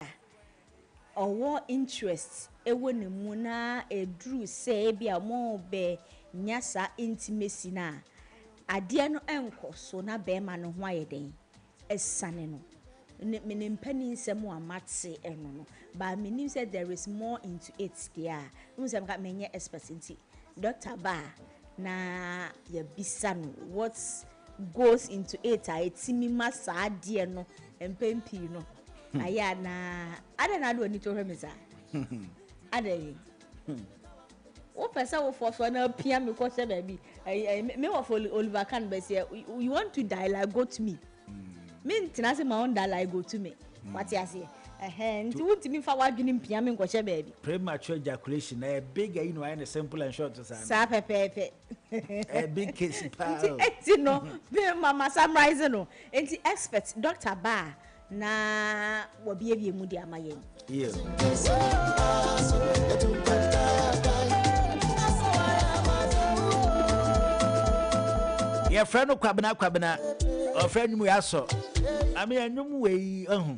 a ɔwɔ interest wɔ ne mu na ɛduru sɛ ebi a wɔrebɛnya saa intimacy no a, adeɛ no nkɔ so na barima no ho ayɛ dɛn? Asiane no. Ne me ne mpaninsɛm a mate no no, but menim sɛ there is more into it deɛ a, wohu sɛ menka menyɛ expert nti, doctor ba a na yɛabisa no what goes into it a ɛtumi ma saa adeɛ no mpɛn pii no hmm. ayɛ anaa adɛn na ade w'ani to hwɛ me saa adɛn hmm. wopɛ sɛ wofoɔ soɔ na apia me kɔhyɛ baabi me wɔfo oliver kan bɛseɛ you want to die like go to me hmm. mentena se ma wonda like go to me wate aseɛ nti wontumi fa w'adwene mpia me nkɔhyɛ baabi premature ejaculation ɛyɛ big ayi na wayɛ ne simple and short saa saa pɛpɛɛpɛ ɛyɛ eh, big case paa nti eti no ma ma summarize no nti expert doctor baa na wɔbiebie mu de ama yɛn. Yeah. yɛfrɛ no kwabena kwabena ɔfrɛ nwum yɛ asɔ ame anwum wei ahu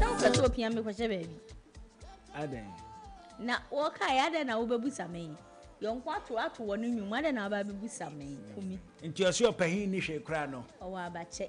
Na wopɛ sɛ opia me kɔhyɛ baabi? Adɛn? Na wɔkae, adɛn na wobɛbusa me? Yɔnko ato ato wɔ ne nnwom, adɛn na waba abɛbusa me? Kumi. Nti ɔse ɔpahin nni hwee koraa no? Ɔwɔ abakyɛ.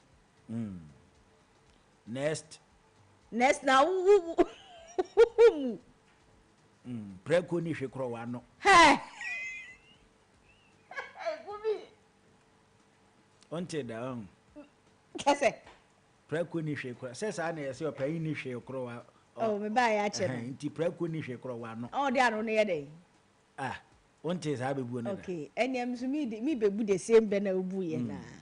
Mm. Next. Next na wo wo wo wo mu. Mm. Preko ni hwe kro wano. Hey. Hey, Bumi. Onte da on. Kese. Preko ni hwe kro. Se sa na yese opayin ni hwe kro wa. Oh, me ba ya che. Eh, nti preko ni hwe kro wano. Oh, dia no ne ye dey. Ah. Onte sa be bu ne. Okay. Eniam so me me be bu the same be na obu ye na. Mm.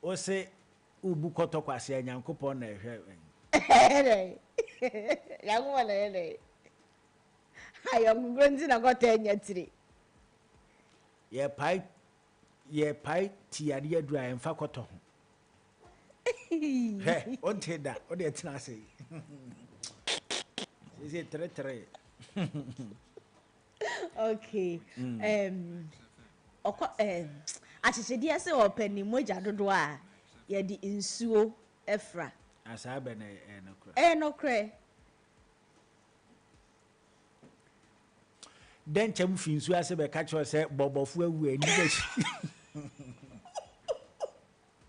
Wo se wo bu kɔtɔ kwasea Nyankopɔn na ɛhwɛ wɛn. Ɛyɛ dɛn? Nyankopɔn na ɛyɛ dɛn? Ayɔnkogorɔ nti na kɔtɔ anya tire. Yɛ pae yɛ pae ti adeɛ aduru a ɛmfa kɔtɔ ho. Hwɛ, wonte da, wode ɛtena ase. Sese tere tere. okay mm. um, ɔkɔ um, akyekyedeɛ sɛ ɔpɛ ne mogya dodoɔ a yɛde nsuo afira asaa bɛ na ɛyɛ nokorɛ ɛyɛ nokorɛ dɛn nkyɛm fi nsuo ase bɛka kyerɛ sɛ bɔbɔfo awu ani bɛhyi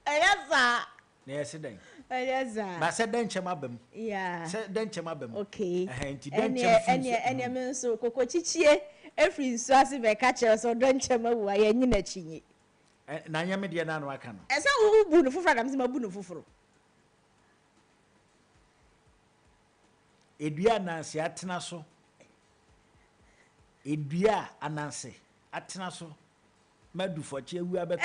Ɛyɛ saa. Na yɛse dɛn? Ɛyɛ saa. Na sɛ dɛnkyɛm aba mu. Yeah. Sɛ dɛnkyɛm aba mu. Okay. Ɛhɛn, nti dɛnkyɛm firi. Ɛneɛ, ɛneɛ, ɛneɛ me nso, kokokyikyie firi nsuo ase bɛka kyerɛ wo sɛ dɛnkyɛm awu a, yɛnnye no akyinnye. Ɛ, na anyɛ me deɛ no a na waka no. Ɛsɛ wo, wo bu no foforɔ a, na me nso mabu no foforɔ. Edua a Ananse atena so. Edua a Ananse atena so. Madu fɔkye awu abɛtɔ.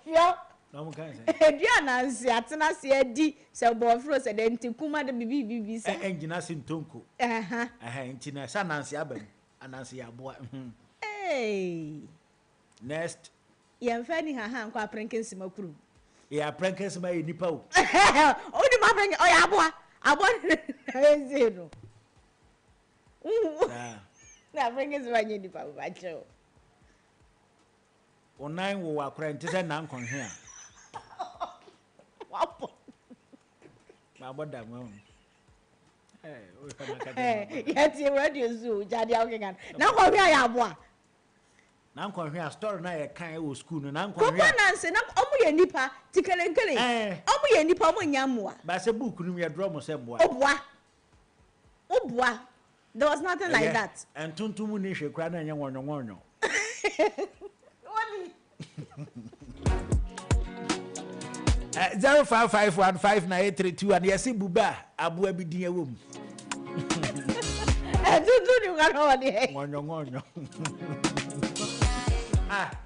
Fio. Na wɔn kan sɛn. Edu ananse atena ase adi sɛ bɔɔforo sɛ dɛ nti kum ade bibibibi sa. Ɛ ɛngyina ase ntɔ nko. Ɛha. Ɛha nti na sɛ ananse aba mu ananse yɛ aboa mhm. Eeii. Next. Yɛnfa ani haha nkɔ aprenke nsima kurom. Eɛ aprenke nsima yɛ nipa o. Wonim aprenke ɔyɛ aboa aboa na ɛsee no. Saa. Na Africans ma nyɛ nipa mma kyɛw. Wo nan wo akora nti sɛ nan kɔnhwe a. Wabɔ. Wabɔ da mo. Eh, o fa na ka de. Ya ti radio zoo, ja dia o kengan. Na kɔnhwe a ya aboa. Na kɔnhwe a story na yɛ kan wɔ school no. Na kɔnhwe. Kɔkɔ na nse na ɔmo yɛ nipa, tikelenkele. Ɔmo yɛ nipa, ɔmo nya mmoa. Ba sɛ book no mu yɛ draw mo sɛ mmoa. Ɔboa. Wo boa, there was nothing like that. Ɛyɛ, ntontom mu ni hwɛ kura na ɛnyɛ wɔnyɔ wɔnyɔ. Wo ni. Ɛ zero five five one five nine eight three two one yɛ si buba aboa bi din ɛwɔ mu. Ɛtutu ni kura na wɔde. Wɔnyɔ wɔnyɔ. Ah.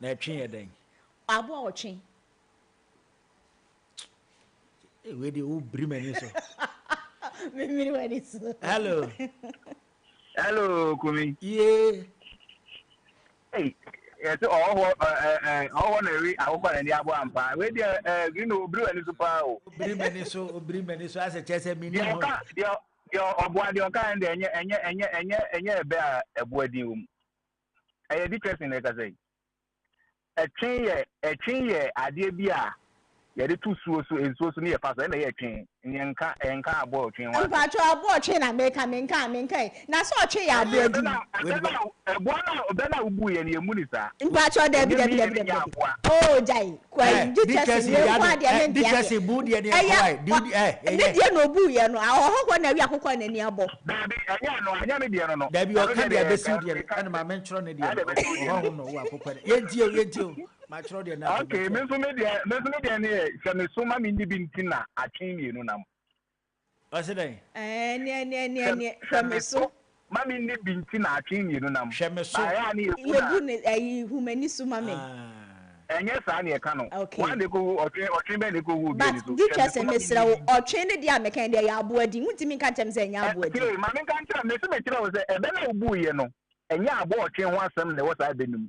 Na ɛtwe yɛ dɛn? Aboa ɔtwe. Wei deɛ wobiri m'ani so. Memiri w'ani so. Hello. Hello, Kumi. Yee. Hey, yɛsɛ ɔwɔ ɔwɔ na ɛwe akokɔ na ɛni abo ampa. Wei deɛ green obiri w'ani so paa o. Obiri m'ani so, obiri m'ani so asɛ kyɛ sɛ mini ho. Deɛ ɔboa deɛ ɔka ɛn deɛ ɛnyɛ ɛnyɛ ɛnyɛ ɛnyɛ ɛnyɛ ɛbɛ a ɛboa din wɔ mu. Ɛyɛ Dickerson na ɛkasa yi. Ɛtwe yɛ ɛtwe yɛ adeɛ bi a yɛde to suo so nsuo so ne yɛ fa so ɛna ɛyɛ ɛtwe neɛ nka ɛnka aboa ɔtwe ho asɛm. Mpakyɛw aboa ɔtwe na meka menka menkae na sɛ ɔtwe yɛ adeɛ bi. Ɛbɛ na ɛboa na ɛbɛ na wobuiɛ no yɛmmu no saa. Mpakyɛw dabi dabi dabi dabi dabi oo gyae Kwae, Dickerson wei nko ara deɛ me nte aseɛ. Ɛyɛ ne deɛ na ɔbuu yɛ no, ɔhɔ hɔ na awi akokɔ a n'ani abɔ. Daabi, ɛnyɛ ɛno, ɛnyɛ me deɛ no no. Daabi, ɔka deɛ abɛsiw deɛ no, ɛna maame ntwerɛ ne deɛ no, ɔhɔ hom na ɔwɔ akokɔ no. Yɛntie o, yɛntie o, matwerɛ deɛ no afei, matwerɛ. Okay, me nso me deɛ, me nso me deɛ no yɛ, sɛ meso ma menni bi nti na atwe mmienu nam. Ɔse dɛn? Ɛneɛ neɛ neɛ neɛ hwɛ me so. Ma me nni bi nti na atwee mmienu nam. Hwɛ me so. Baeɛ a ne yɛbu no a. Yɛbu no ayi hu m'ani so ma me. Aah. Ɛnyɛ saa na yɛka no. Okay. Woa na ɛkɔwu ɔtwe ɔtwe bɛn na ɛkɔwu obi ani so. But Hwɛ me so Dutchess ma me mesrɛ nni wo bi. ɔtwe ne deɛ a mekae deɛ ɛyɛ aboa din wontumi nka nkyerɛ me sɛ ɛnyɛ Ɛ aboa din. tie ma me nka nkyerɛ mese mekyerɛ wo sɛ ɛbɛ no a wobuiɛ no ɛnyɛ aboa ɔtwe ho asɛm na ɛwɔ saa ɛbɛ no mu.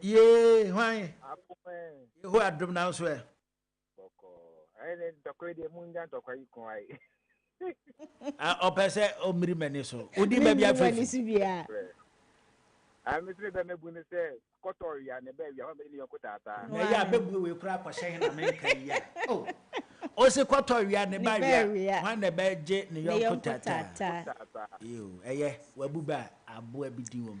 Yee, hwan? Yehowa adom nanso ɛ. Ɔpɛ sɛ ɔmmiri m'ani so. Wodi baabi afefi. Ah, me sɛ bɛ mɛbu ne sɛ kɔtɔ wia ne bɛ wia hɔ mɛ ne yɔnko taataa. na yɛ a bɛbue wei kora akɔhyɛ he na menka yi a o oh. ɔse kɔtɔ wia ne ba wia hwan na bɛgye ne yɔnko taataa ɛyɛ wabu bɛ a aboa bi din wɔ mu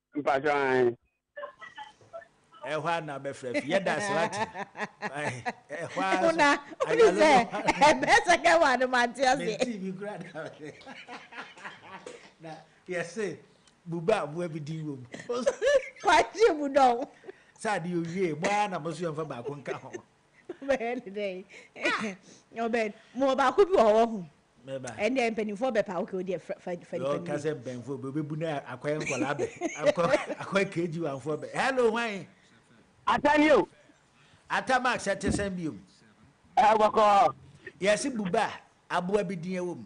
Mpacho ahen. Ɛhɔ a na bɛfrɛ fi yɛda ase wate ɛhɔ a so na wone sɛ ɛbɛ sɛ kɛ wa no mante ase menti bi kura da na yɛse buba aboa bi din wom kwagye mu dɔn sɛ ade owie mo ara na mo so yɛmfa baako nka ho Wobɛyɛ ne dɛn? Ah! Ɔbɛn. Mo wɔ baako bi wɔ hɔ wahu. Mɛba. Ɛndeɛ mpanimfoɔ bɛpa okay wodeɛ fa fa nipa no bi. Ɔka sɛ mpanimfoɔ bɛ ɔbɛbu na akɔyɛ nkɔlaa bɛ. Akɔ akɔ KG wanfoɔ bɛ. Hello hwan? Ata ni o. Ata Max ɛte sɛn biom? Ɛɛ bɔkɔɔ. Yɛse buba, aboa bi din ɛwɔ mu.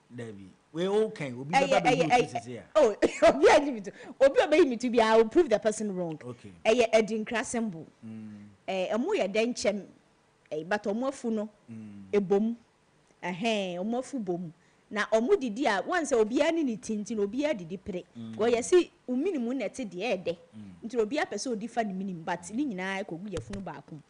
Dabi. Wei o kɛn obi bɛ ba bɛ yi otu sese a. Oh obi a yi mitu. Obi obe yi mitu bi I will prove the person wrong. Okay. Ɛyɛ Adinkra symbol. Mm. Eh ɔmo yɛ dɛ nkyɛm eh but ɔmo afu no mm. ebom. Ɛhɛn ɔmo afu bom. Na ɔmo didi a wɔn sɛ obiara ne ne ti nti na obiara didi pere. Mm. Gɔ yɛsi wo minimu na ɛte deɛ ɛdɛ. Mm. Nti obiara pɛ sɛ odi fa ne minimu but ne nyinaa ɛkɔ gu yɛfunu baako mu.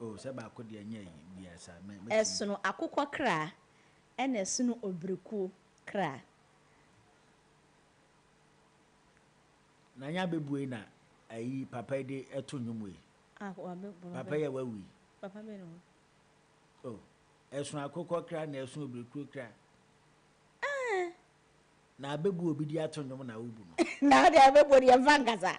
Oh sɛ baako deɛ nyɛ ayi biaa saa mɛ mɛtumi. Ɛsono akokɔ kra ɛna ɛsono obirikuo kra. Nanya bɛbue na ayi papa yi de ɛto nnwom wei. Ah wa bɛ papa bɛ. Papa yi a wawu yi. Papa bɛ no. Oh ɛsono akokɔ kra na ɛsono obirikuo kra. Ah. Na abɛbu obi de ato nnwom na wobu no. Na wode abɛbu deɛ ɛmfa nkasa.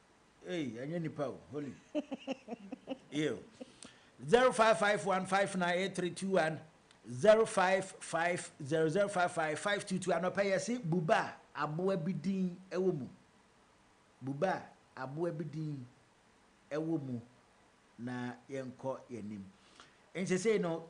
Ei ɛnyɛ nipa o holy. Ew. 0551598321 0550055522 anɔpɛ yɛse buba a aboa bi din ɛwɔ mu buba a aboa bi din ɛwɔ mu na yɛnkɔ yɛnim ɛn sesei no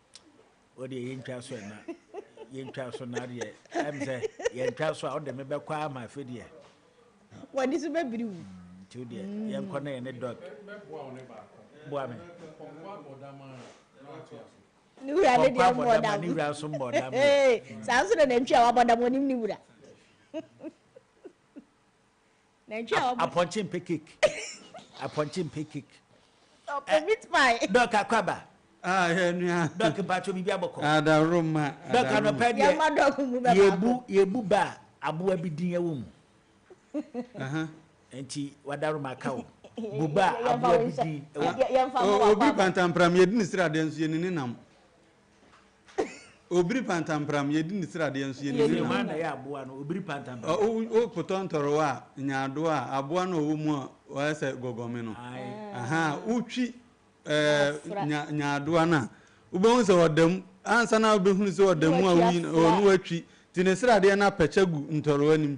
O deɛ yɛntwa so ɛna yɛntwa so na deɛ ɛm sɛ yɛntwa so a wode me bɛkɔ a ma afe deɛ wɔde so bɛbiri wu nti wo deɛ mm. yɛnkɔ na yɛne dɔk boa me ne wura ne deɛ mmɔ dam ne wura nso mmɔ dam saa nso na nantwi a wabɔ dam ɔnim ne wura Nantwi a ɔbɔ. Apɔnkye mpɛ cake. Apɔnkye mpɛ cake. Ɔpɛ meat pie. Dɔk akwaba. Ah yɛ nua. Dɔk mpatsɔ biribi abɔkɔ. Adaworoma. Dɔk anɔpɛ deɛ. Yɛma dɔk mu bɛ baako. Yɛbu yɛbu ba a aboa bi din ɛwɔ mu. Nti w'adaworoma aka wo. Bu ba a aboa bi din ɛwɔ mu. Obi pantampram yɛdi ne sradeɛ nso yɛni ne nam. Obiri pantampram, yɛdi ne sradeɛ nso yɛnim ne nam. Hwan na ɛyɛ aboa no, obiri pantampram? Wopotɔ ntɔrewa a, nyaadoa a, aboa no a ɔwɔ mu a ɔyɛ sɛ gɔgɔme no. Wotwi nyaadoa no a, wobɛhu sɛ ɔda mu. Ansa na wobɛhunu sɛ ɔda mu a, na watwi. Nti ne sradeɛ no apɛkyɛ gu ntɔrewa no mu.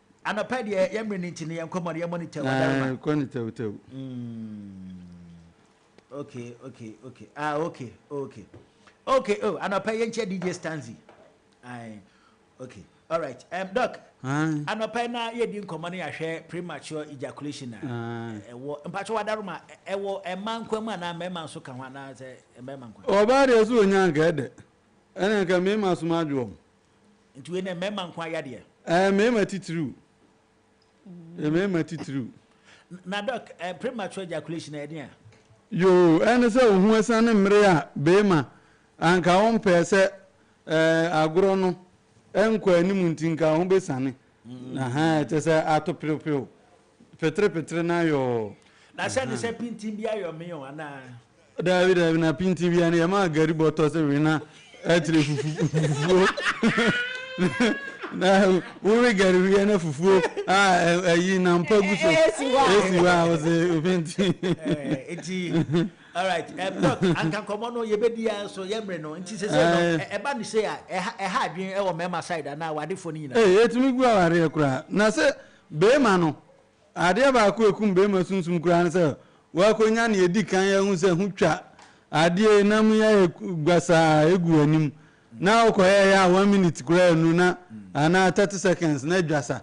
Anɔpa deɛ yɛ mmerɛ no nti no yɛ nkɔmmɔ no yɛ monitor wɔ darima. Na kɔ ne tɛwtɛw. Okay okay okay ah okay okay okay oh anɔpa yɛ nkyɛ DJ Stanzi. Ayi okay alright um, doc. Anɔpa na yɛ di nkɔmmɔ no yɛahwɛ premature ejaculation na ɛwɔ mpatsɛ wɔ darima ɛwɔ ɛma nkwa mu anaa mmarima nso ka ho anaa sɛ mmarima nkwa. Ɔbaa deɛ so onya nka ɛdɛ ɛna nka mmarima so ma adwo wɔn. Nti wei nɛ mmarima nko ara yɛ adeɛ? Ɛɛ mmarima titiriw. Ɛɛ mmarima titiriw. Na dɔk, ɛɛ premature ejaculation ɛyɛ deɛn? Yoo, ɛne sɛ wo ho asiane mmere a barima anka wompɛɛ sɛ ɛɛ agorɔ no nkɔ anim nti nka wo ho bɛsiane. Ahaa, kyerɛ sɛ ato perew perew. Petere petere no ayɔɔ. Na sɛ ne sɛ pintin bi ayɔ me o anaa. Daabi daabi na pintin bia no yɛ maa gari bɔtɔ sɛ we na akyire fufu fufuo na wo we gari wiɛ na fufuo a ayi na mpa gu so esi hɔ a wo se pintin. Eti alright doc anka nkɔmɔ no yɛ bɛ di ya so yɛ mre no nti sese no ɛba no sei a ɛha adwene ɛwɔ mɛma side anaa awadefoɔ no nyinaa. Ee etumi gu awareɛ koraa na sɛ Barima no. Adeɛ baako a ɛkum barima sunsum koraa ne sɛ woakɔnya nea ɛdi kan ahu sɛ ho twa, adeɛ yi nam yi ayɛ gbasaa ɛgu w'anim, na wokɔyɛeɛ a one minute koraa annu na anaa thirty seconds na adwasa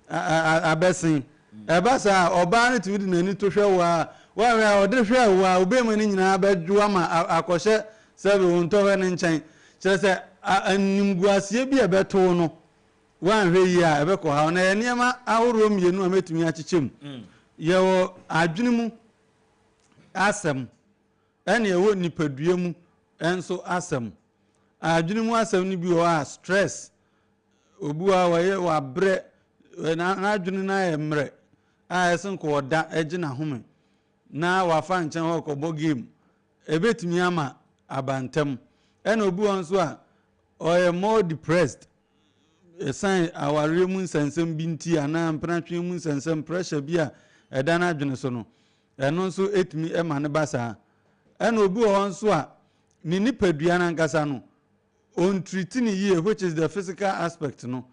abɛsen. Ɛba saa a, ɔbaa no tumi de n'ani to hwɛ wo ara, woanhwɛ a ɔde hwɛ wo ara, wo barima no nyinaa bɛdwo ama akɔhyɛ sɛbe wo ntɔhwɛ no nkyɛn. Kyerɛ sɛ animguaseɛ bi a ɛbɛto wo no Woanhwɛ yie a, ɛbɛkɔha wo. Na ɛyɛ nneɛma ahoroɔ mmienu a mɛtumi akyekyɛ mu. Yɛwɔ adwene mu asɛm, ɛna ɛwɔ nnipadua mu nso asɛm. Adwene mu asɛm no bi wɔ hɔ a, stress, obi wɔ hɔ a wɔyɛ wabrɛ, n'adwene no ayɛ mmerɛ a ɛsɛ nka ɔda gye n'ahome na wafa nkyɛn hɔ kɔbɔ game. Ɛbɛtumi ama aba ntɛm. Ɛna obi wɔ hɔ nso a, ɔyɛ more depressed, Esiane awareɛ mu nsɛnsɛm bi nti anaa mpenatweɛ mu nsɛnsɛm, pressure, bi a ɛda n'adwene so no, ɛno nso tumi ma no ba saa. Ɛna obi wɔ hɔ nso a, ne nipadua no ankasa no, ɔntreat no yie, which is the physical aspect no.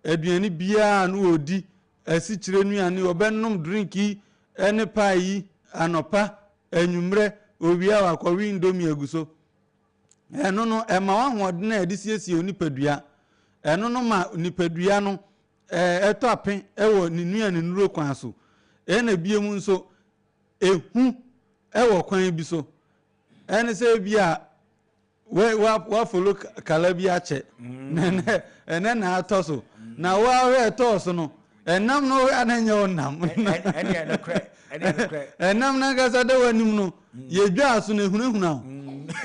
Aduane biara a no ɔdi, asikyire nnuane, ɔbɛnom drink yi ne pie yi anɔpa, anwummerɛ, owia wakɔwe indomie agu so. Ɛno no, ɛma wo ahoɔden a yɛde siesie wo nipadua. Ɛno no ma nipadua no ɛtɔ ape wɔ ne nua ne nnuro kwan so. Ɛna bio mu nso, ehu wɔ kwan bi so. Ɛne sɛ ebi a wafolo kala bi akyɛ. Mm. Ɛnɛ na atɔ so. Mm. Na woahwɛ ɛtɔɔ so no, Ɛnam no hwɛ a na ɛnyɛ wo nam. Ɛneɛ nokorɛ, ɛneɛ nokorɛ. Ɛnam no ankasa da w'anim no, yɛdwaa so na ɛhunahuna wo.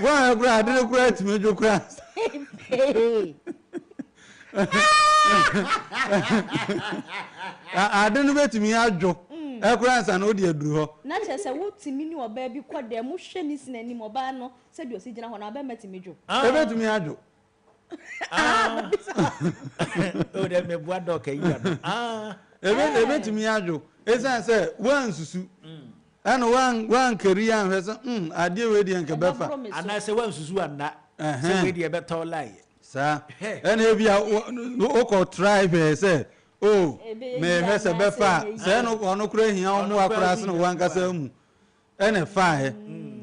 Woanhwɛ koraa a, ade no koraa tumi dwo koraa ansa. Ade no bɛtumi adwo koraa ansa na wode aduru hɔ. Na kyerɛ sɛ wotumi ne ɔbaa bi kɔ dan mu hwɛ ne sini anim, ɔbaa no sɛdeɛ ɔsi gyina hɔ no, abɛɛma tumi dwo. Ɛbɛtumi adwo. ɛbɛtumi ah. ah. adwo ɛsiane sɛ woansusu mm. ɛna woankari anhwɛ sɛ mm, adeɛ wei deɛ nkɛbɛfa anaasɛ woansusu anna sɛ wei deɛ ɛbɛtɔ laeɛ saa ɛna ebi a wokɔ try hwɛɛ sɛ o oh, mehwɛ sɛ bɛfa a sɛ ɛno ɔno kora hia wo mmoa koraa sene woankasa mu Ɛna ɛfaaɛ,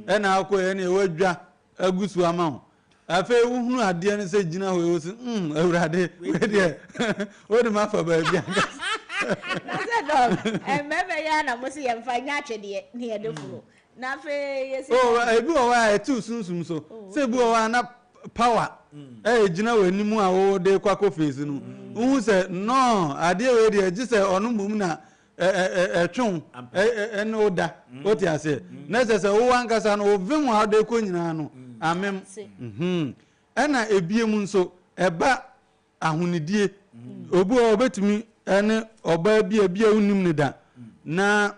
ɛna akɔɛ, ɛna ɛwadwa agu so ama wo. Afei wohunu adeɛ no sɛ gyina hɔ yi, wo se, mm, Awurade, wei deɛ, wode me afa baabi ankasa. Na sɛ dɔm, mmarima yi ara na mose yɛmfa nyɛ atwedeɛ na yɛde foro. Na afei yɛsi Oh, dɛn? ebi wɔ hɔ a ɛte wo sunsum so. Oh, Sɛ ebi wɔ okay. hɔ a na power ɛgyina w'anim a wode kɔ akɔ face no. Wohu sɛ, no, adeɛ wei deɛ, gye sɛ ɔno mmom na ɛtwe wo ɛne wo da wote aseɛ na ɛsɛ sɛ wo ankasa no wovem a wode kɔ nyinaa no amem ɛna ebie mu nso ɛba ahonidie obi hɔ ɔbɛtumi ɛne ɔbaa bi a bi a wonim ne da na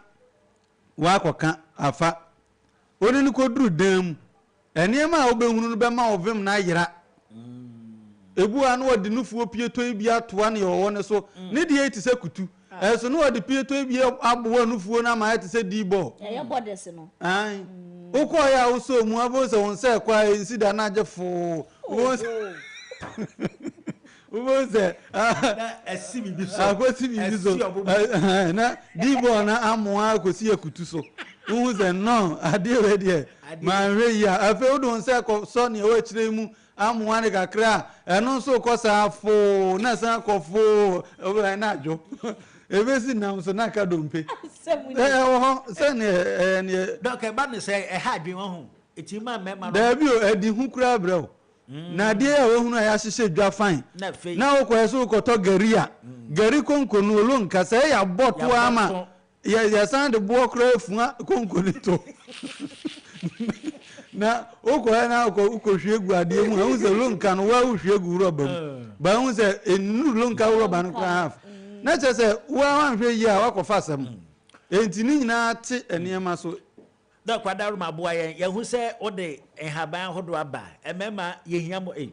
wakɔka afa Wode no kɔduru dan mu. Nneɛma a wobɛhunu no bɛma wo vem no ayera. Ebu a na wɔde nufoɔ pietoi bi atoa nea ɔwɔ no so. Ne deɛ yi te sɛ kutu. Ɛso na wɔde pietoi bi aboa nufoɔ no ama ayɛ te sɛ D-ball. Ɛyɛ bɔdɛs no. Aane. Wokɔeɛ a wosɔɔ mu a, wobɛhu sɛ wo nsa rekɔ a ɛnsi da na agye foo. Wobɛhu sɛ. Wobɛhu sɛ akɔsi biribi so, na D-ball no amoa akɔsi akutu so. Wohu sɛ nɔn, adeɛ wei deɛ manhwɛ yie a. Afei wode wo nsa rekɔsɔ nea ɛwɔ akyire yi mu amoa no kakra a, ɛno nso rekɔ saa foo, na ɛsan kɔ foo, wobɛhwɛ na adwo. Ɛbɛsi nam so na aka dompe. Ɛwɔ hɔ sɛ neɛ. Dɔk ɛba no sɛ ɛha adwene, wahu. Ɛtumi ma mmarima no. Daabi o, ɛde hu koraa brɛ wo. Na adeɛ yi a wahunu a yɛahyehyɛ dwa fann na wokɔɛ so wokɔtɔ gari a, gari konko no olo nka sɛɛ yɛabɔ to ara ma yɛsan de boɔ koraa afua konko no to na wokɔɛ na wokɔhwie gu adeɛ mu a wohu sɛ olo nka no woa wohwie gu worɔba mu ba wohu sɛ ɛnnuru olo nka worɔba no koraa half na kyerɛ sɛ woa woanhwɛ yie a woakɔfa asɛm enti ne nyinaa te nneɛma so Dɔk Kwadaroma boa yɛn yɛhu sɛ wode nhaban ahodoɔ aba ɛmɛma yɛhia mo ei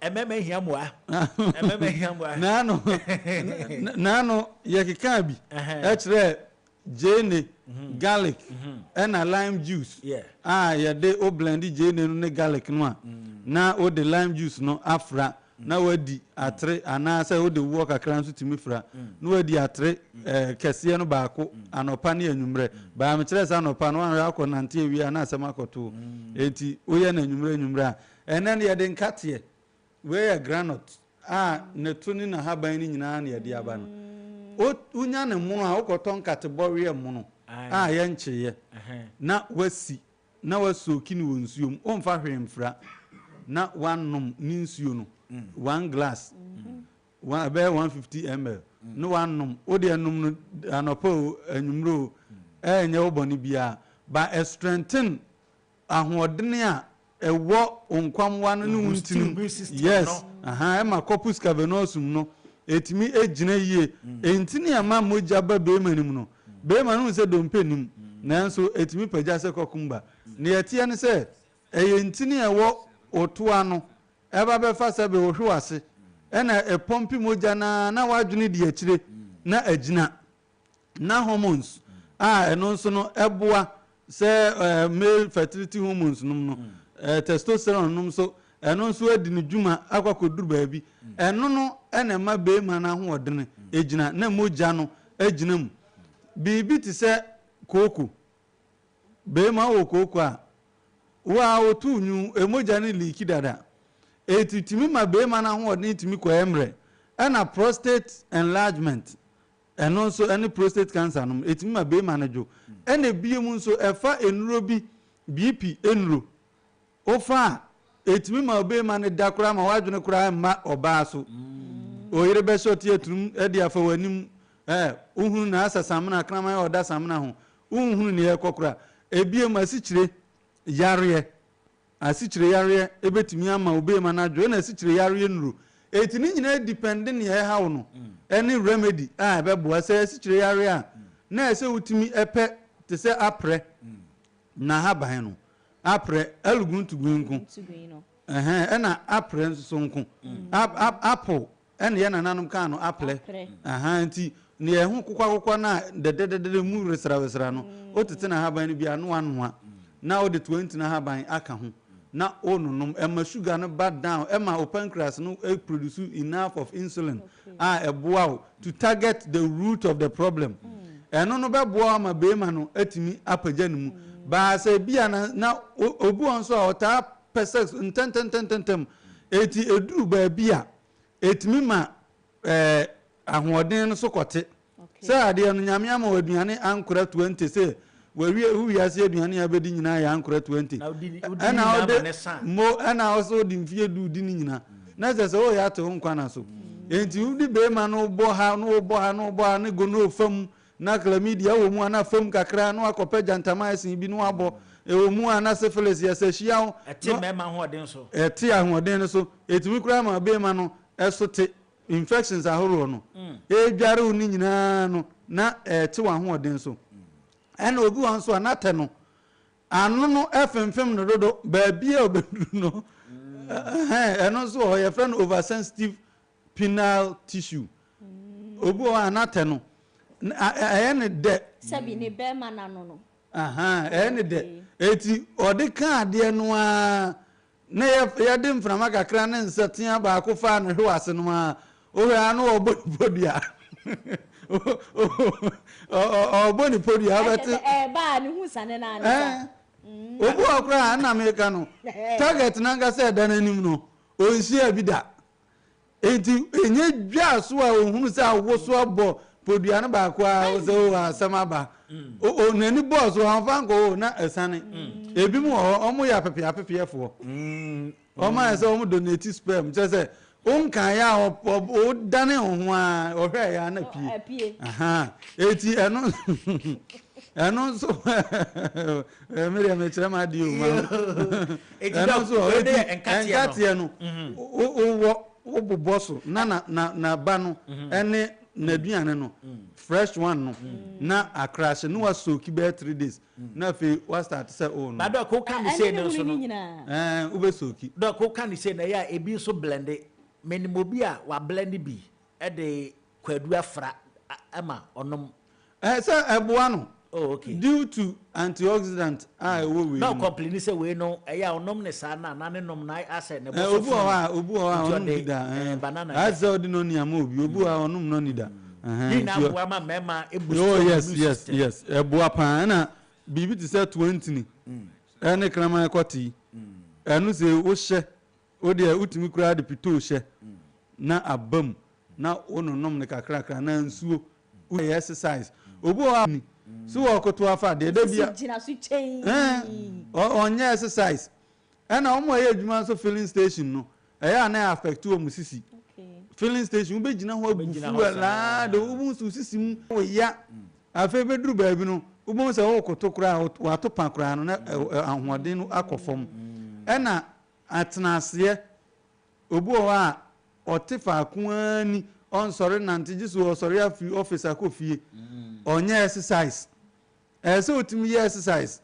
ɛmɛma hia moa ɛmɛma hia moa. Naano naano yɛkekaa bi kyerɛɛ gyeene, garlic ɛna lime juice a yɛde wo blɛnde gyeene no ne garlic no a na wode lime juice no afra. na wadi atere anaasɛ wode woɔ kakra nso tumi fira na wadi atere kɛseɛ no baako anɔpa ne anwummerɛ. Baa mekyerɛ sɛ anɔpa no woanhwɛ akɔ nante awie a na asɛm akɔto wo enti woyɛ no anwummerɛ anwummerɛ a. Ɛnnɛ no yɛde nkateɛ, wei yɛ granot a ne to ne nahaban no nyinaa na yɛde aba no. Wo wonya no mono a wokɔtɔ nkate bɔweɛ mono a yɛnkyeeɛ na wasi Na woasooki no wɔ nsuo mu, womfa hwee mfra, na woanom ne nsuo no, one glass, one, ɛbɛyɛ 150 ml, na woanom. Wo deɛ nom no anɔpa o, anwummerɛ o, ɛrenyɛ wo bɔne biara, but ɛ strengthen ahoɔdene a ɛwɔ wo nkwammoa no ne wo ntini mu, yes, aha, ɛma corpus cavernosum no ɛtumi gyina yie, ntini a ɛma mogya ba bɛrima no mu no, Beema no hu sɛ dompe nnim, nanso ɛtumi pagya sɛ kɔkom ba. Nea ɛteɛ ne sɛ, ɛyɛ ntini a ɛwɔ wo to ano, ɛba bɛfa sɛbe wo hwe w'ase, ɛna ɛpɔmpe mogya no ara na w'adwene di akyire na agyina, na hormones a ɛno nso no ɛboa Sɛ male fertility hormones nom no, testosterone nom nso, ɛno nso adi ne dwuma akɔ akɔduru baabi. Ɛno no na ɛma barima no ahoɔdene gyina, na mogya no gyina mu. Biribi te sɛ kooko, barima wowɔ kooko a, wo ara woto nnwom, mogya no liiki dada. Ɛtumi ma barima no ahoɔdene tumi kɔ mmerɛ. Ɛna prostate enlargement Ɛno nso ne prostate cancer nom, ɛtumi ma beema no dwo. Ɛna ɛbie mu nso ɛfa nnuro bi, BP nnuro, wofa a ɛtumi ma obeema no da koraa ma w'adwene koraa mma ɔbaa so. Oyere bɛhyɛ ɔte aturum de afa w'anim, eh, wohunu na asa samena, kraman a ɔda samena ho, wonhunu nea ɛrekɔ koraa. Ɛbie mu asikyire yareɛ. Asikyireyareɛ bɛtumi ama obeema no adwo ɛna asikyireyareɛ nnuro enti ne nyinaa depɛnde nea ɛhaw no ɛne remedy a ɛbɛboa sɛ asikyireyareɛ a na ɛsɛ wotumi pɛ te sɛ aprɛ nahaban no aprɛ aluguntugui nko ɛhɛn ɛna aprɛ nsoso nko apple Ɛna yɛn nananom kaa no aprɛ. Ahaa, nti nea ɛho kokwakokwa no a dɛdɛdɛdɛdɛ mu resrɛwesrɛ no, otete n'ahaban no bi a na wanoa, na ɔde toantini ahaban aka ho na ɔrenom. Ɛma sugar no ba down, ɛma wo pancreas no produce enough of insulin a ɛboa wo to target the root of the problem. Ɛno no bɛboa wo ama beema no atumi apagya ne mu. Baasa ebia na, na obi wɔ hɔ nso a ɔtaa pɛ sex ntɛntɛntɛntɛm. Enti eduru baabi a, etumi ma ɛɛ ahoɔden no so kɔte. Sɛ adeɛ no, Nyame ama wo aduane ankora twenty, sɛ wawie wo wiase aduane a wobɛdi nyinaa yɛ ankora twenty. Na wodi ne wodi ne Ɛna nyinaa wode ma ne sa. mo, ɛna wo sɛ wode mfeɛ du di ne nyinaa. Na kyerɛ sɛ woyɛ ate wo nkwa na so. Enti wode beema no wobɔ ha, na wobɔ ha, na wobɔ ha, ne gono fa mu. Ná chlamydia wɔ mu a na fam kakra na wakɔpɛ gentamicin bi na wabɔ. Ɛwɔ mu a na syphilis yɛ sɛ hyiaw. Ɛte mmarima ahoɔden so. Ɛte ahoɔden no so. Ɛtumi koraa ma ɔbɛɛma no so te. Infections ahoroɔ no ɛredware wo no nyinaa no na ɛte w'ahoɔden so. Ɛna obi wɔ hɔ nso a na tɛ no ano no fimfim no dodo baabiara a ɔbɛduru no. Ɛhɛn, ɛno nso wɔ hɔ, yɛfrɛ no oversensitive penile tissue. Obi wɔ hɔ a n'atɛ no, ɛyɛ no dɛ. Sɛbi ne bɛrima no ano no. Ahaa, ɛyɛ no dɛ. Eti ɔde kaa adeɛ no ara na yɛde mframa kakra ne nsatea baako faa no hwew ase no ara, wohwɛ a na ɔrebɔ ne podua. Ɔrebɔ ne podua wobɛte. Ɛba a ne ho sane no ara ne sa. Obi wɔ hɔ koraa a, ɛna meka no, target no ankasa a ɛda n'anim no, ɔnhyiaa bi da. Enti ɛnyɛ dwaa so a ɔhunu sɛ awoso abɔ podua no baako a ɔsɛ o asɛm aba. N'ani bɔɔ so ɔmfa nkɔ o na asiane. Ebi mu wɔ hɔ ɔmo yɛ apepea apepeɛfoɔ. Ɔmo ayɛ sɛ ɔmo donate sperm kyerɛ sɛ wonkaeɛ a ɔdane wo ho a ɔhwɛeɛ a na pie. Eti ɛno ɛno nso medeɛ mekyerɛ m'adeɛ o. ɛno nso ɔ eti ɛnkateɛ no wowɔ wo bobɔ so na na na na ba no ɛne n'aduane no fresh one no na akrahye ne wa soki bɛyɛ three days na afei wa start sɛ o oh, no. badɔ ko ka ne sɛ no nso no ɛɛ wobɛ soki. dɔ ko ka ne sɛ na yɛ a ebi nso blende mɛnimɔ bi a wa blende bi ɛde. Kwadu afra ma ɔnom. Ɛɛ sɛ ɛboa no. Oh okay. Due to antioxidant a ɛwɔ wei mu. Na ɔcomplaini sɛ wei no ɛyɛ a ɔnom ne saa na na ne nom na asɛ ne bo so funu. Obi wɔ hɔ a obi wɔ hɔ a ɔnom bi da. Banana yɛ. Asɛ ɔde nɔni ama obi obi wɔ hɔ a ɔnom nɔni da. Ne nyinaa boa ma mmarima ebu so. Oh yes yes yes ɛboa paa ɛna biribi te sɛ toantini ɛne kraman kɔtee ɛno sɛ wohyɛ. Wo deɛ wotumi koraa de pitoo hyɛ na aba mu na wo nonom no kakrakra anaa nsuo wo yɛ exercise obi wɔ hɔ a ni so wɔ koto afa deɛ da bia ɛɛ ɔnyɛ exercise ɛna wɔn a ɛyɛ adwuma nso filling station no ɛyɛ a na affect wɔn sisi filling station wo bɛ gyina hɔ abu fuel laa de wo mu nso sisi mu wo ya afei bɛ duru baabi no wo bɛ sɛ wo koto koraa wato pa koraa no na ahoɔden no akɔ fam ɛna Atenaseɛ, Obi wɔ hɔ a, ɔte faako ara ni, ɔnsɔre nnante gye sɛ ɔsɔre afiri office akɔ fie. Ɔnyɛ exercise. Ɛsɛ sɛ wotumi yɛ exercise.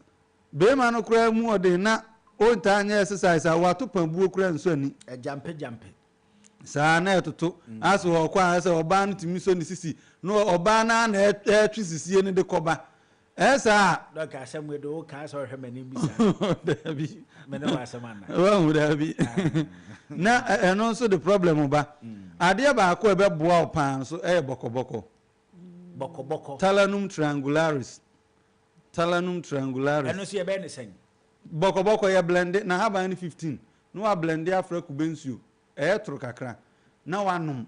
Barima no koraa mu ɔden na ɔntaa nyɛ exercise a, wato pabuo koraa nsɔ ani. Agyampegyampe. Saa na ɛtoto ase wɔ hɔ kɔ ara sɛ ɔbaa no tumi sɔ ne sisi na ɔbaa no ara na ɛretwe sisie no de kɔba. Ɛyɛ saa a. Dɔk asɛm wei de wo kaa sɛ ɔhwɛ m'anim bi saa. Daabi. Me ne w'asɛm ana. Wahu daabi. Na ɛno nso de problem ba. Mm. Adeɛ baako a ɛbɛboa wo paa nso ɛyɛ bɔkɔbɔkɔ. Bɔkɔbɔkɔ. Talanum triangularis. Talanum triangularis. Ɛno nso yɛbɛyɛ ne sɛn? Bɔkɔbɔkɔ yɛ blende na haban no 15 na wa blende afra kube nsuo ɛyɛ toro kakra na wanom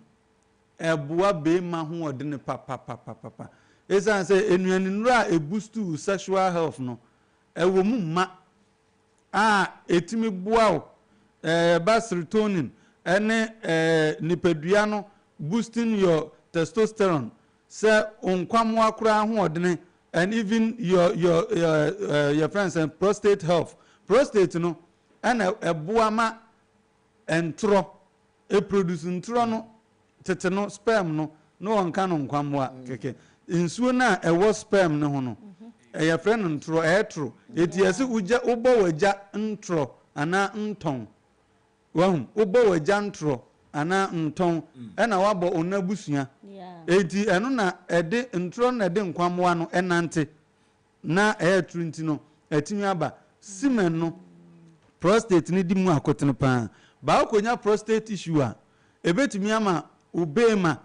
Ɛboa beema ho ɔdene papapapapa. Esiane sɛ nnuanennuro a ɛbustu wo sexual health no, ɛwɔ mu ma a ɛtumi boa wo ba serotonin ne nipadua no boosting your testosterone, sɛ wo nkwammoa koraa ahoɔdene and even your your yɛfrɛ no sɛn prostate health. Prostate no na ɛboa ma Ntorɔ, ɛproduce ntorɔ no, tete no, sperm no, na wɔnka no nkwammoa kɛkɛ. Nsuo no a ɛwɔ sperm no ho no, yɛfrɛ no ntorɔ, ɛtoro. Enti yɛse wogya, wobɔ w'agya ntorɔ anaa ntɔn. Wahu? Wobɔ w'agya ntorɔ anaa ntɔn, ɛna woabɔ wo n'abusua. Enti ɛno na ɛde, ntorɔ no na ɛde nkwammoa no nante. Ná ɛyɛ atoro nti no, atumi aba. Semen no, prostate no di mu akotene paa. Baa konya prostate tissue a, ebetumi ama wo beema,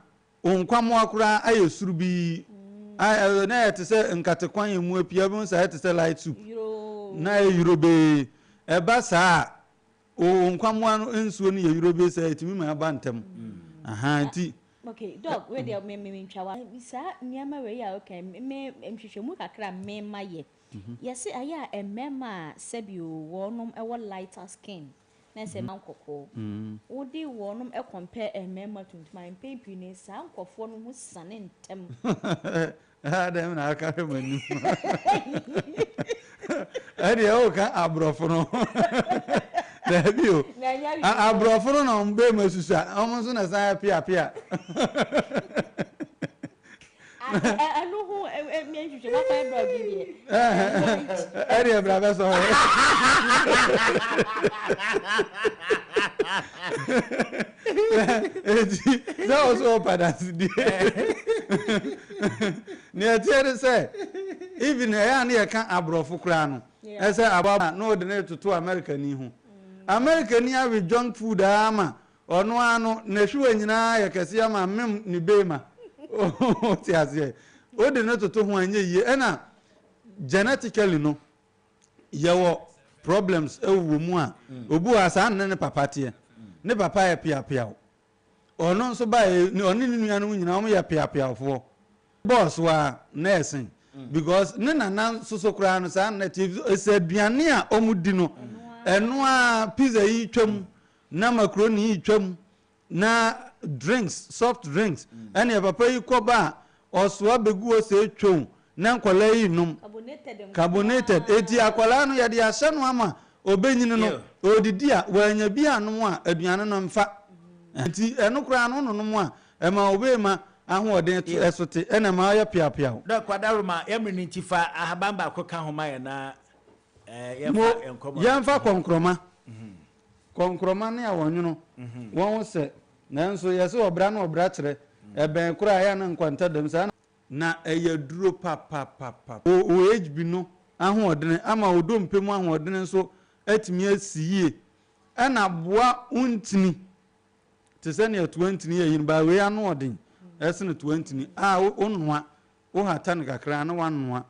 wo nkwammoaa koraa ayɛ suru bi a na ɛyɛ te sɛ nkate kwan a emu apue a wobɛhu sɛ ayɛ te sɛ light soup, na ayɛ yoro bee. Ɛba saa a, Oo nkwammoa no nsuo no yɛ yurobes a ɛtumi ma ɛba ntɛm ahaa nti. Ok dɔk wei deɛ me me ntwa wa saa nneɛma wei a woka yi me nhwehwɛmu kakra a me ma yɛ yɛse ayɛ a mmarima a sɛbi o wɔnom wɔ lighter skin na sɛ mma nkɔkɔɔ wode wɔnom compare mmarima tuntum a mpɛn pii no saa nkorɔfoɔ no ho siane ntɛm. Haa dɛm na aka hwɛ m'anim. Ɛdeɛ woka aborɔfo no ho. Daabi o. Aborɔfo no na wɔn bɛɛ mu asusua. Wɔn nso na san apiapia. Ɛno ho mmea nhwehwɛ mu akwan brɛ ɔde deɛ. Ɛdeɛ bra bɛsɔ hɔ. Enti, sɛ wo nso wɔpa adansedie. Nea ɛteɛ ne sɛ, even ɛyɛ a na yɛka aborɔfo koraa no, ɛsɛ aboa na wɔde no retoto Amerikani ho. Amerikani awe junk food ara ma ɔno ara no, n'ahwiwa nyinaa ayɛ kɛseɛ ama amem ne beema. Wote aseɛ? Wode no toto ho a, ɛnyɛ yie. Ɛna genetically no, yɛwɔ problems wɔ mu a mm. obi wɔ asaa ne ne papa teɛ mm. ne papa yɛ piapiaw ɔno nso ba yɛ ɔne ne nua no nyinaa wɔn yɛ piapiawfoɔ bɔɔso a na ɛsen mm. because ne nana soso koraa no saa na ɛte ɛsɛ aduane a wɔn di no ɛno a pizza yi twam na macaroni yi twam Na drinks soft drinks ɛneɛ papa yi kɔba a ɔsoa begu hɔ sɛ twom na nkwadaa yi nom carbonated eti akwadaa no yɛde ahyɛ no ama ɔbɛnyini no ɔredidi a wanya bi anom a aduane no mfa nti ɛno koraa no wononom a ɛma ɔbɛma ahoɔden to ɛsote ɛna ɛma ɔyɛ peapeaw. Dɔk kwadaa roma yɛ mene nti fa ahaban baako ka ho ma yɛn na yɛnfa nkɔmɔ no. Yɛnfa kɔnkrɔma. Kɔnkrɔma ne awɔnwono, wɔn ho sɛ. Nanso yɛse ɔbra ne ɔbra kyerɛ. Ɛbɛn koro a, ɛyɛ a na nkwanta dam saa na. Na ɛyɛ duro papapapa. OHB no ahoɔdene ama wo dompe mu ahoɔdene nso atumi asi yie ɛna aboa wo ntini te sɛ nea toa ntini yɛ yini baa wei anoɔden sene toa ntini a wonoa, wohata no kakra na woanoa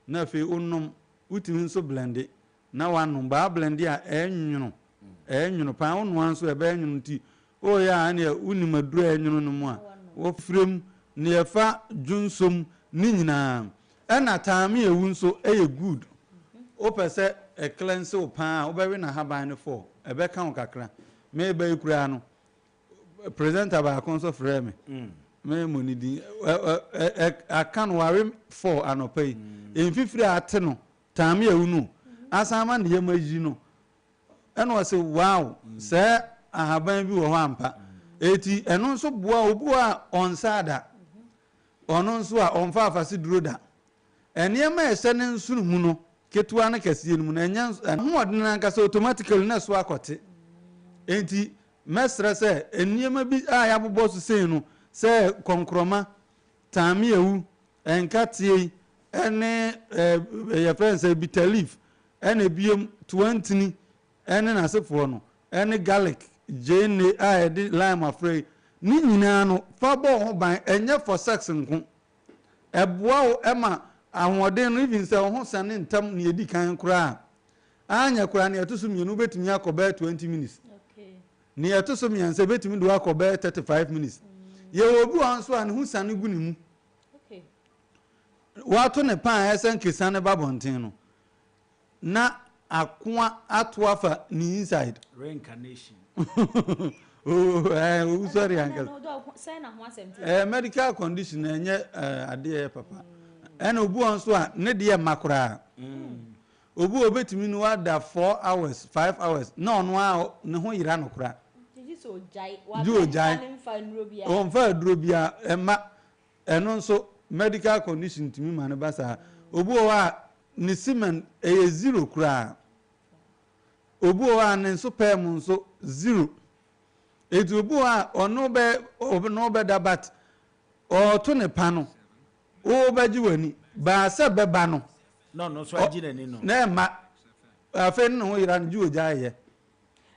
Na afei wonom, wotumi nso blɛnde na woanom. Baa blɛnde a, ɛnwono. Ɛnwono paa. Wonoa nso a, ɛbɛyɛ nwono nti, woyɛ a ɛnneɛ wonim aduro a ɛnwono no mu a, wofra mu. Deɛ ɛfa dwonsɔ mu ne nyinaa. Ɛnna ataame a ɛwu nso yɛ good. Wopɛ sɛ ɛklɛnse wo paa a, wobɛwe n'ahaban no fɔɔ. Ɛbɛka wo kakra. Mereba yi koraa no, Presenter baako nso frɛɛ me, me mmɔ ne din, aka no ware four anɔpa yi, mfifiri a ate no taame awu no, asan ama ne yam ayi no, ɛna ɔse wow, saa ahaban bi wɔ hɔ ampa, eti ɛno nso boa obi wɔ a ɔnsaa da, ɔno nso a ɔmfa afaseduro da, Nneɛma a ɛhyɛ ne nsono mu no, ketewa ne kɛseɛ no mu no, ɛnyɛ nso ahoɔden no ankasa automatically na ɛso akɔte. Enti mɛsrɛ sɛ nneɛma bi a yɛabobɔ so sei no, sɛ kɔnkorɔma, taameawu, nkateɛ yi, ne eh, yɛfrɛ no sɛ bitter leaf, ɛna ebiem toantini ne n'asefoɔ no, ne garlic, gyeene a yɛde lime afra yi, ne nyinaa no fa bɔ ho ban, ɛnyɛ for sex nko. ɛboa wo ma ahoɔden no even sɛ wo ho sane ntɛm nea edi kan koraa a, anyɛ koraa nea ɛto so mmienu wobɛtumi akɔ bɛyɛ 20 minutes. Nea ɛto so mmiɛnsa ebɛtumi de wo akɔ bɛyɛ 35 minutes. Yɛwɔ obi wɔ hɔ nso a ne ho sane gu ne mu. Wato ne pan a ɛsɛ nkesane ba bɔnten no. Na akoa ato afa ne inside. Reincarnation oh eh owusɔre ankasa. Eh medical condition ɛnyɛ adeɛ ɛyɛ papa. Ɛna obi wɔn so a ne deɛ mma koraa. Obi wɔ obetumi no wada four hours five hours na ɔno a ne ho yera no koraa. Gye sɛ ogyae. Gye ogyae. Ɔnfa aduro biara ɛma. Ɛno nso medical condition tumi ma no ba saa. Obi wɔ hɔ a ne semen ɛyɛ zero koraa. Obi wɔ hɔ a ne nso pɛɛ mu nso zero. Eti obi wɔ hɔ a ɔno bɛ ɔno bɛda but ɔɔto ne pa no wobɛgye w'ani baa sɛ bɛba no. Na ɔno nso agye n'ani no. Na ɛma afei ne ne ho yera no gye ogya yɛ.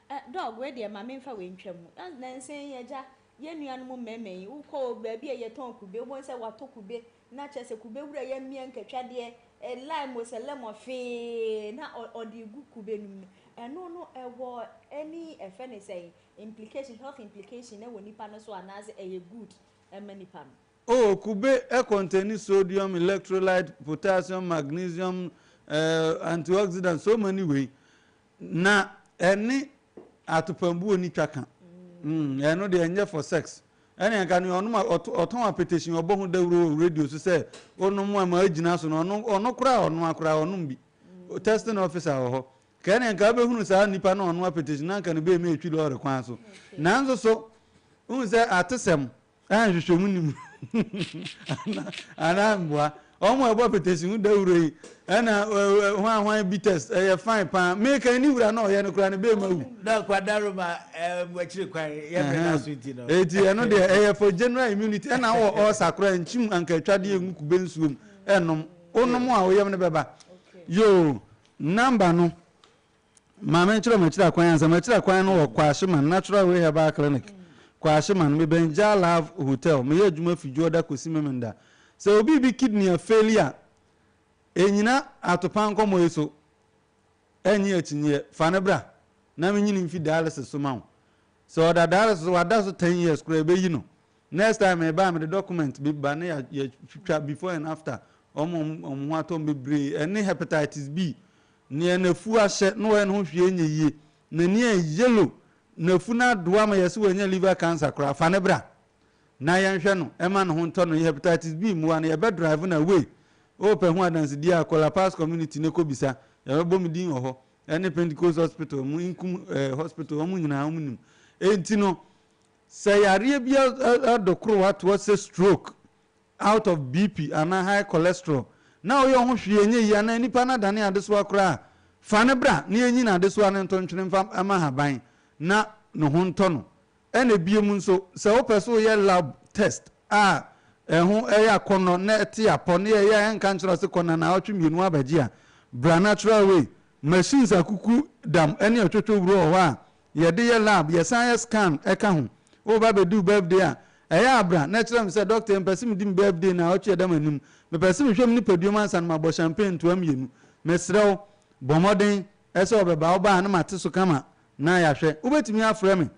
Eh dog wei deɛ ma me nfa wei ntwa mu ah nansa yi agya yɛn nua nom mmarima yi wo kɔ baabi a yɛ tɔn kube wo bɔ hu sɛ wa tɔ kube na kyerɛ sɛ kube wura yɛ mmea nkatwa deɛ eh lime o sɛ lemon fee na ɔ ɔde gu kube nom no ɛno no ɛwɔ any ɛfɛ ne sɛn implication health implication ɛwɔ nipa no so anaa sɛ ɛyɛ good ɛma nipa no. Oh kube ɛ containi sodium, electrolyte, potassium, magnesium, eh antioxidant so many wei Na ɛne atopambu oni twa ka. Umm ɛno deɛ ɛnyɛ for sex. Ɛne nka nea ɔnom ɔtɔn apɛtɛhyin ɔbɔ ho dawuro wɔ radio so sɛ onom a ma agyina so no ɔno ɔno koraa ɔnoa koraa ɔnom bi. Testing officer wɔ hɔ. Nka ɛne nka wobɛhunu saa nnipa no a ɔnom apɛtɛhyin na nka ne bɛɛmi atwi lɔɔre kwan so. Nanso so wohu sɛ atesɛm A nhwehwɛmu ni mu anaa mboa wɔn a ɛbɔ petesi ho dawuro yi ɛna hwan hwan bi test ɛyɛ fine paa meka ni wura na ɔyɛ no koraa no bɛɛ ma wu. na kwadaro ma ɛmu akyiri kwan yɛ bɛ na so nti no. eti ɛno deɛ ɛyɛ for general immunity ɛna wɔ ɔɔsa koraa nkyim anka atwa deɛ ngu kube nsuom ɛnom wonom a woyam no bɛba yoo namba no Maame nkyerɛ mo akyira kwan ansa. Mo akyira kwan no wɔ Kwahyeman Natural Way Herbal Clinic, Kwahyeman. Me bɛn Jah Love Hotel. Me yɛ adwuma fi Dwoɔda kɔsi Memenda. Sɛ obi bi kidney a faili a, ɛnyina atopa nkɔmmɔ yi so. Ɛnye akyinyeɛ. Fa no bra na me nyini mfi dialysis so ma wo. Sɛ ɔda dialysis so, wada so ten years koraa, ɛbɛyi no. Next time me ba a mede document be ba na ya ya twitwa before and after ɔmo ɔmo ɔmo ho atɔ ɔmo bebree ɛne hepatitis B neɛ nafu ahyɛ na wayɛ ne ho hwee nyɛ yie nani ayɛ yellow nafu no adoa ma yɛse wanya liver cancer koraa fa no bra na yɛnhwɛ no ɛma ne ho ntɔ no yɛ hepatitis B mmoa no yɛbɛ drive no away wopɛ ho adansedie a kɔ La Paz community ne kɔbisa yɛbɛbɔ me din wɔ hɔ ɛne Pentecost hospital mo inkum eh, hospital ɔmo nyinaa ɔmo nim enti no Sɛ yareɛ bi adɔ koro hɔ ato hɔ sɛ stroke, out of BP anaa high cholesterol na woyɛ wo ho hwee a ɛnyɛ yie anaa nipa no adane adesoa koraa a, fa no bra na yɛnyi no adesoa no ntontwene mfa mma ahaban na ne ho ntɔ no. Ɛna biom nso, sɛ wopɛ sɛ woyɛ lab test a ɛho yɛ akɔnnɔ na ɛte apɔ na yɛyɛ a yɛnka nkyerɛ wo sɛ kɔ nanaawɔtwe mmienu abɛgye a, bra Natural Way. Machines akuku dam ne ɛtwotwo wuro wɔ hɔ a yɛde yɛ lab yɛsan yɛ scan ɛka ho wo ba bɛduu birthday a ɛyɛ a bra na ɛkyerɛ me sɛ dɔkta mepɛsɛ medi me birthday naawɔtwe ɛda manim mepɛsɛ mehwɛ me nipaduam ansa na mabɔ champagne ntoa mmienu mesrɛ wo bɔ mmɔden sɛ ɔbɛba woba a na mate so kama na yɛahwɛ wobɛtumi afrɛ me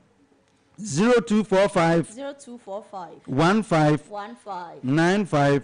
0245 0245 15 15 95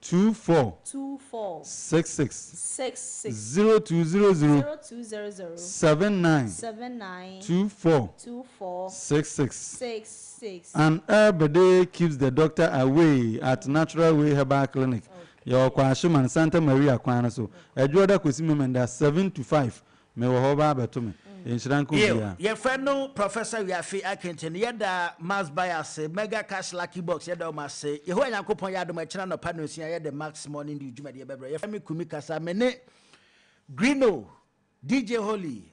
two four six six zero two zero zero seven nine two four six six an herbede keeps the doctor away at natural way herbal clinic yɛwɔ kwahyeman santa maria kwan no so adwoɔda kwasi memenda seven to five Me wɔ hɔ wo baa bɛto me. Nhyira nka Yiw, obiara. yɛ fɛ no Professor Wiafe Akenkyene, yɛ da Max Buy ase, Mega Cash Lucky Box, yɛ da wɔn ase. Yehowa Nyankopɔn yɛ adom a, ɛkyena anɔpa nnɔnsia yɛ de Max Morning Dew dwumadie bɛbrɛ. Yɛ fɛ me Kumi Kasa, me ne Grino, DJ Holy,